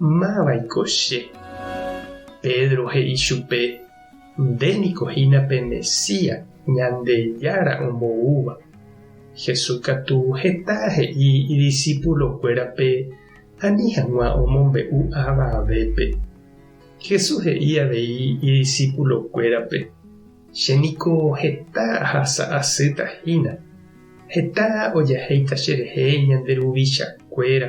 Máva'iko che? Pedro he'i chupe, Nde niko hína pe Mesías, Ñandejára omboúva. Jesús katu heta he'i idisipulokuérape ani hag̃ua omombe'u avavépe. Jesús he'i avei idisipulokuérape, Che niko heta ahasa asýta hína. Heta ojahéita cherehe ñande ruvichakuéra.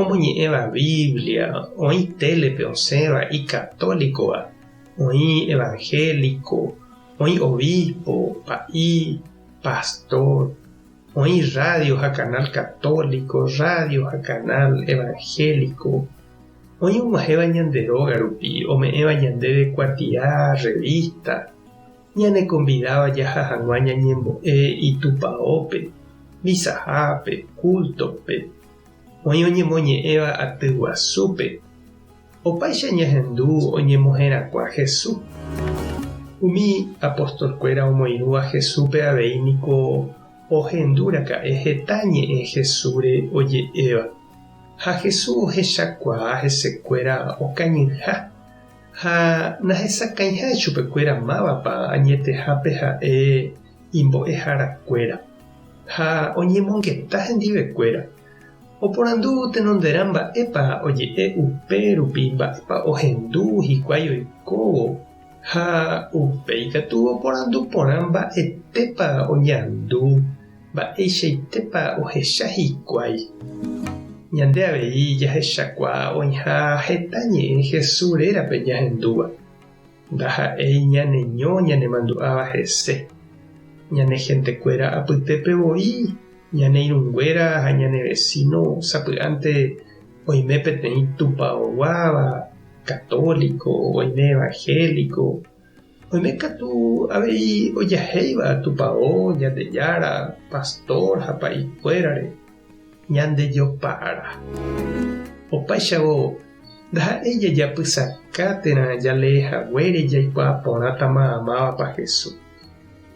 Omoñe'ẽva Biblia, oĩ télepe osẽva icatólicova, oĩ evangélico, oĩ obispo, pa'i, pastor, oĩ radio ha canal católico, radio ha canal evangélico, oĩ og̃uahẽva ñande róga rupi, ome'ẽva ñandéve kuatia revista, ñanekonvidáva jaha hag̃ua ñañembo'e Itupaópe, misahápe, cultope, Oĩ oñemoñe'ẽva aty guasúpe. Opaicha ñahendu oñemoherakuã Hesu. Umi apostolkuéra omoirũva Hesúpe avei niko ohendu raka'e heta ñe'ẽ Hesúre oje'éva. Ha Hesu ohechakuaa hesekuéra okañyha ha nahesakãiha chupekuéra mávapa añetehápe ha'e imbo'eharakuéra ha oñemongeta hendivekuéra, oporandu tenonderã mba'épa oje'e upe rupi mba'épa ohendu hikuái oikóvo ha upéi katu oporandu porã mba'etépa oñandu, mba'eichaitépa ohecha hikuái. Ñande avei jahechakuaa oĩha heta ñe'ẽ Jesús rérape ñahendúva. Ndaha'éi ñaneño ñanemandu'áva hese, ñane hentekuéra apytépe voi, ñane irũnguéra ha ñane vesíno sapy'ánte oime peteĩ tupaoguáva, katóliko, oime evanhéliko, oime katu avei ojahéiva tupao, Ñandejára, pastór ha pa'ikuérare. Ñandejopa'arã. Opaichagua ndaha'éi jajapysaka térã jalee haguére jaikuaa porãtama amávapa Hesu.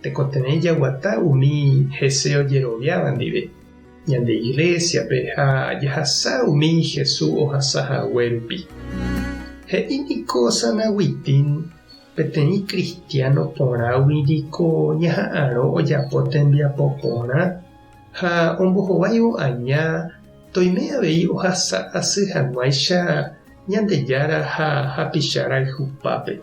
Tekotevẽ jaguata umi hese ojeroviáva ndive ñande iglésiape ha jahasa umi Hesu ohasa hague rupi. He'i niko San Agustín, Peteĩ kristiáno porãgui niko ñaha'arõ ojapo tembiapo porã. ha ombohováivo aña toime avei ohasa asy hag̃uáicha Ñandejára ha hapicha rayhupápe.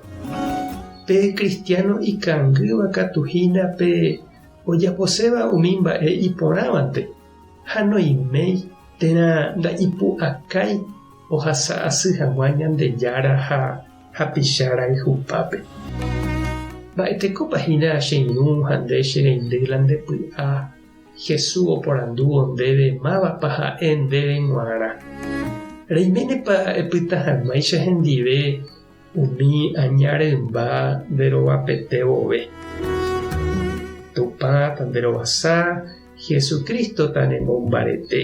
Pe kristiáno ikangýva katu hína pe ojaposéva umi mba'e iporãvante ha noiméi térã nda'ipu'akái ohasa asy hag̃ua Ñandejára ha hapicha rayhupápe. Mba'etekópa hína che ñu ha nde che rendy la nde py'a? Jesús oporandúvo ndéve mávapa ha'e ndéve g̃uarã. Reiménepa epyta hag̃uáicha hendive umi aña rymba nde rovapete vove? Tupã ta nde rovasa, Jesucristo ta ne mombarete.